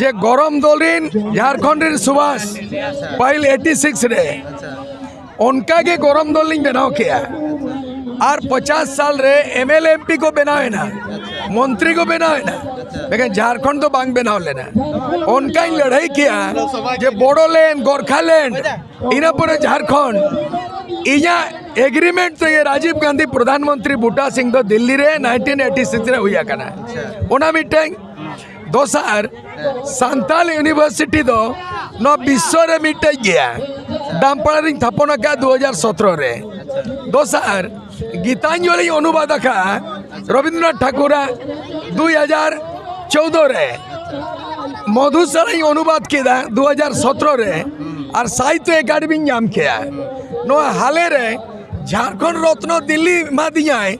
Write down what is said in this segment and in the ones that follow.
ᱡᱮ ᱜᱚᱨᱚᱢ ᱫᱚᱞ ᱨᱮᱱ ᱡᱷᱟᱲᱠᱷᱚᱸᱰ ᱨᱮᱱ ᱥᱩᱵᱷᱟᱥ ᱯᱟᱹᱦᱤᱞ ᱮᱭᱤᱴᱤ ᱥᱤᱠᱥ ᱨᱮ ᱚᱱᱠᱟ ᱜᱮ ᱜᱚᱨᱚᱢ ᱫᱚᱞ ᱞᱤᱧ ᱵᱮᱱᱟᱣ ᱠᱮᱜᱼᱟ ᱟᱨ ᱯᱚᱪᱟᱥ ᱥᱟᱞ ᱨᱮ ᱮᱢ ᱮᱞ ᱮᱢ ᱯᱤ ᱠᱚ ᱵᱮᱱᱟᱣ ᱮᱱᱟ ᱢᱚᱱᱛᱨᱤ ᱠᱚ ᱵᱮᱱᱟᱣ ᱮᱱᱟ ᱞᱮᱠᱤᱱ ᱡᱷᱟᱲᱠᱷᱚᱸᱰ ᱫᱚ ᱵᱟᱝ ᱵᱮᱱᱟᱣ ᱞᱮᱱᱟ ᱚᱱᱠᱟᱧ ᱞᱟᱹᱲᱦᱟᱹᱭ ᱠᱮᱜᱼᱟ ᱡᱮ ᱵᱚᱲᱚᱞᱮᱱᱰ ᱜᱚᱨᱠᱷᱟᱞᱮᱱᱰ ᱤᱱᱟᱹ ᱯᱚᱨᱮ ᱡᱷᱟᱲᱠᱷᱚᱸᱰ ᱤᱧᱟᱹᱜ ᱮᱜᱽᱨᱤᱢᱮᱱᱴ ᱛᱮᱜᱮ ᱨᱟᱡᱤᱵᱽ ᱜᱟᱱᱫᱷᱤ ᱯᱨᱚᱫᱷᱟᱱ ᱢᱚᱱᱛᱨᱤ ᱵᱩᱴᱟ ᱥᱤᱝ ᱫᱚ ᱫᱤᱞᱞᱤ ᱨᱮ ᱱᱟᱭᱤᱱᱴᱤᱱ ᱮᱭᱤᱴᱤ ᱥᱤᱠᱥ ᱨᱮ ᱦᱩᱭ ᱟᱠᱟᱱᱟ ᱚᱱᱟ ᱢᱤᱫᱴᱟᱝ ᱫᱚᱥᱟᱨ ᱥᱟᱱᱛᱟᱞ ᱤᱭᱩᱱᱤᱵᱷᱟᱨᱥᱤᱴᱤ ᱫᱚ ᱱᱚᱣᱟ ᱵᱤᱥᱥᱚ ᱨᱮ ᱢᱤᱫᱴᱮᱡ ᱜᱮᱭᱟ ᱰᱟᱢᱯᱟᱲᱟ ᱨᱤᱧ ᱛᱷᱟᱯᱚᱱ ᱟᱠᱟᱫ ᱫᱩ ᱦᱟᱡᱟᱨ ᱥᱚᱛᱨᱚ ᱨᱮ ᱫᱚᱥᱟᱨ ᱜᱤᱛᱟᱧᱡᱚᱞᱤᱧ ᱚᱱᱩᱵᱟᱫ ᱟᱠᱟᱫ ᱨᱚᱵᱤᱱᱫᱨᱚᱱᱟᱛᱷ ᱴᱷᱟᱠᱩᱨᱟᱜ ᱫᱩᱭ ᱦᱟᱡᱟᱨ ᱪᱳᱫᱚ ᱨᱮ ᱢᱚᱫᱷᱩᱥᱟᱞᱟᱧ ᱚᱱᱩᱵᱟᱫ ᱠᱮᱫᱟ ᱫᱩ ᱦᱟᱡᱟᱨ ᱥᱚᱛᱨᱚ ᱨᱮ ᱟᱨ ᱥᱟᱦᱤᱛᱭᱚ ᱮᱠᱟᱰᱮᱢᱤᱧ ᱧᱟᱢ ᱠᱮᱫᱟ ᱱᱚᱣᱟ ᱦᱟᱞᱮ ᱨᱮ ᱡᱷᱟᱲᱠᱷᱚᱸᱰ ᱨᱚᱛᱱᱚ ᱫᱤᱞᱞᱤ ᱮᱢᱟᱫᱤᱧᱟᱭ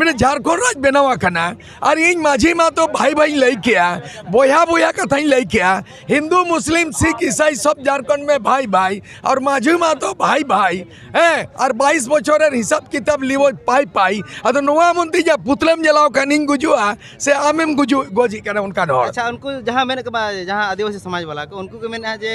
ᱢᱟᱱᱮ ᱡᱷᱟᱲᱠᱷᱚᱸᱰ ᱨᱟᱡᱽ ᱵᱮᱱᱟᱣ ᱟᱠᱟᱱᱟ ᱟᱨ ᱤᱧ ᱢᱟᱹᱡᱷᱤ ᱢᱟ ᱛᱚ ᱵᱷᱟᱭ ᱵᱷᱟᱭ ᱞᱟᱹᱭ ᱠᱮᱜᱼᱟ ᱵᱚᱭᱦᱟ ᱵᱚᱭᱦᱟ ᱠᱟᱛᱷᱟᱧ ᱞᱟᱹᱭ ᱠᱮᱜᱼᱟ ᱦᱤᱱᱫᱩ ᱢᱩᱥᱞᱤᱢ ᱥᱤᱠᱷ ᱤᱥᱟᱭ ᱥᱚᱵ ᱡᱷᱟᱲᱠᱷᱚᱸᱰ ᱢᱮ ᱵᱷᱟᱭ ᱵᱷᱟᱭ ᱟᱨ ᱢᱟᱹᱡᱷᱤ ᱢᱟ ᱛᱚ ᱵᱷᱟᱭ ᱵᱷᱟᱭ ᱦᱮᱸ ᱟᱨ ᱵᱟᱭᱤᱥ ᱵᱚᱪᱷᱚᱨ ᱨᱮ ᱦᱤᱥᱟᱵ ᱠᱤᱛᱟᱵ ᱞᱤᱣᱚᱡ ᱯᱟᱭ ᱯᱟᱭ ᱟᱫᱚ ᱱᱚᱣᱟ ᱢᱚᱱᱛᱮ ᱡᱟ ᱯᱩᱛᱞᱟᱹᱢ ᱡᱟᱞᱟᱣ ᱠᱟᱱ ᱤᱧ ᱜᱩᱡᱩᱜᱼᱟ ᱥᱮ ᱟᱢᱮᱢ ᱜᱩᱡᱩᱜ ᱜᱚᱡᱤᱜ ᱠᱟᱱᱟ ᱚᱱᱠᱟᱱ ᱦᱚᱲ ᱟᱪᱪᱷᱟ ᱩᱱᱠᱩ ᱡᱟᱦᱟᱸ ᱢᱮᱱᱮᱫ ᱠᱚ ᱡᱟᱦᱟᱸ ᱟᱹᱫᱤᱵᱟᱹᱥᱤ ᱥᱚᱢᱟᱡᱽ ᱵᱟᱞᱟ ᱠᱚ ᱩᱱᱠᱩ ᱠᱚ ᱢᱮᱱᱮᱫᱼᱟ ᱡᱮ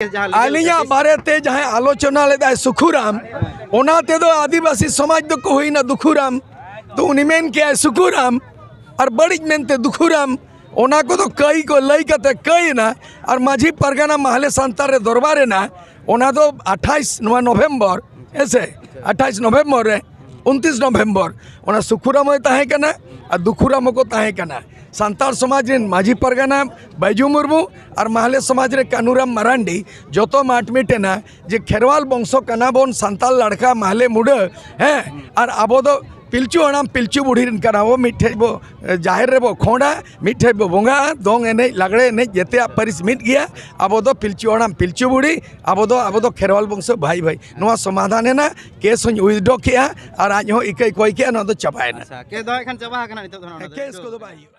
ᱟᱹᱞᱤᱧᱟᱜ ᱵᱟᱨᱮᱛᱮ ᱡᱟᱦᱟᱸᱭ ᱟᱞᱳᱪᱚᱱᱟ ᱞᱮᱫᱟᱭ ᱥᱩᱠᱷᱩᱨᱟᱢ ᱚᱱᱟ ᱛᱮᱫᱚ ᱟᱹᱫᱤᱵᱟᱹᱥᱤ ᱥᱚᱢᱟᱡᱽ ᱫᱚᱠᱚ ᱦᱩᱭᱱᱟ ᱫᱩᱠᱷᱩᱨᱟᱢ ᱛᱚ ᱩᱱᱤ ᱢᱮᱱ ᱠᱮᱜᱼᱟᱭ ᱥᱩᱠᱷᱩᱨᱟᱢ ᱟᱨ ᱵᱟᱹᱲᱤᱡ ᱢᱮᱱᱛᱮ ᱫᱩᱠᱷᱩᱨᱟᱢ ᱚᱱᱟ ᱠᱚᱫᱚ ᱠᱟᱹᱭ ᱠᱚ ᱞᱟᱹᱭ ᱠᱟᱛᱮ ᱠᱟᱹᱭᱮᱱᱟ ᱟᱨ ᱢᱟᱹᱡᱷᱤ ᱯᱟᱨᱜᱟᱱᱟ ᱢᱟᱦᱞᱮ ᱥᱟᱱᱛᱟᱲ ᱨᱮ ᱫᱚᱨᱵᱟᱨ ᱮᱱᱟ ᱚᱱᱟ ᱫᱚ ᱟᱴᱷᱟᱭᱤᱥ ᱱᱚᱣᱟ ᱱᱚᱵᱷᱮᱢᱵᱚᱨ ᱦᱮᱸᱥᱮ ᱟᱴᱷᱟᱭᱤᱥ ᱱᱚᱵᱷᱮᱢᱵᱚᱨ ᱨᱮ ᱩᱱᱛᱨᱤᱥ ᱱᱚᱵᱷᱮᱢᱵᱚᱨ ᱚᱱᱟ ᱥᱩᱠᱷᱩᱨᱟᱢ ᱦᱚᱸᱭ ᱛᱟᱦᱮᱸ ᱠᱟᱱᱟ ᱟᱨ ᱫᱩᱠᱷᱩᱨᱟᱢ ᱦᱚᱸᱠᱚ ᱛᱟᱦᱮᱸ ᱠᱟᱱᱟ ᱥᱟᱱᱛᱟᱲ ᱥᱚᱢᱟᱡᱽ ᱨᱮᱱ ᱢᱟᱹᱡᱷᱤ ᱯᱟᱨᱜᱟᱱᱟ ᱵᱟᱹᱭᱡᱩ ᱢᱩᱨᱢᱩ ᱟᱨ ᱢᱟᱦᱞᱮ ᱥᱚᱢᱟᱡᱽ ᱨᱮ ᱠᱟᱹᱱᱩᱨᱟᱢ ᱢᱟᱨᱟᱱᱰᱤ ᱡᱚᱛᱚ ᱢᱟᱴ ᱢᱤᱴᱮᱱᱟ ᱡᱮ ᱠᱷᱮᱨᱣᱟᱞ ᱵᱚᱝᱥᱚ ᱠᱟᱱᱟ ᱵᱚᱱ ᱥᱟᱱᱛᱟᱞ ᱞᱟᱲᱠᱟ ᱢᱟᱦᱞᱮ ᱢᱩᱰᱟᱹ ᱦᱮᱸ ᱟᱨ ᱟᱵᱚ ᱫᱚ ᱯᱤᱞᱪᱩ ᱦᱟᱲᱟᱢ ᱯᱤᱞᱪᱩ ᱵᱩᱲᱦᱤ ᱨᱮᱱ ᱠᱟᱱᱟ ᱵᱚ ᱢᱤᱫᱴᱷᱮᱡ ᱵᱚ ᱡᱟᱦᱮᱨ ᱨᱮᱵᱚ ᱠᱷᱚᱸᱰᱟ ᱢᱤᱫᱴᱷᱮᱡ ᱵᱚ ᱵᱚᱸᱜᱟᱜᱼᱟ ᱫᱚᱝ ᱮᱱᱮᱡ ᱞᱟᱜᱽᱲᱮ ᱮᱱᱮᱡ ᱡᱮᱛᱮᱭᱟᱜ ᱯᱟᱹᱨᱤᱥ ᱢᱤᱫ ᱜᱮᱭᱟ ᱟᱵᱚ ᱫᱚ ᱯᱤᱞᱪᱩ ᱦᱟᱲᱟᱢ ᱯᱤᱞᱪᱩ ᱵᱩᱲᱦᱤ ᱟᱵᱚ ᱫᱚ ᱟᱵᱚ ᱫᱚ ᱠᱷᱮᱨᱣᱟᱞ ᱵᱚᱝᱥᱚ ᱵᱷᱟᱭ ᱵᱷᱟᱭ ᱱᱚᱣᱟ ᱥᱚᱢᱟᱫᱷᱟᱱ ᱮᱱᱟ ᱠᱮᱥ ᱦᱚᱧ ᱩᱭᱤᱫᱽᱰᱨᱚ ᱠᱮᱜᱼᱟ ᱟᱨ ᱟᱡ ᱦᱚᱸ ᱤᱠᱟᱹᱭ ᱠᱚᱭ ᱠᱮᱜᱼᱟ ᱱᱚᱣᱟ ᱫᱚ ᱪᱟᱵᱟᱭᱮᱱᱟ ᱟᱪᱪᱷᱟ ᱠᱮᱥ ᱫᱚ ᱦᱟᱸᱜ ᱠᱷᱟᱱ ᱪᱟᱵᱟ ᱟᱠᱟᱱᱟ ᱱᱤᱛᱚᱜ ᱫᱚ ᱦᱟᱸᱜ ᱚᱱᱟ ᱫᱚ ᱠᱮᱥ ᱠᱚᱫᱚ ᱵᱟᱭ ᱦᱩᱭᱩᱜᱼᱟ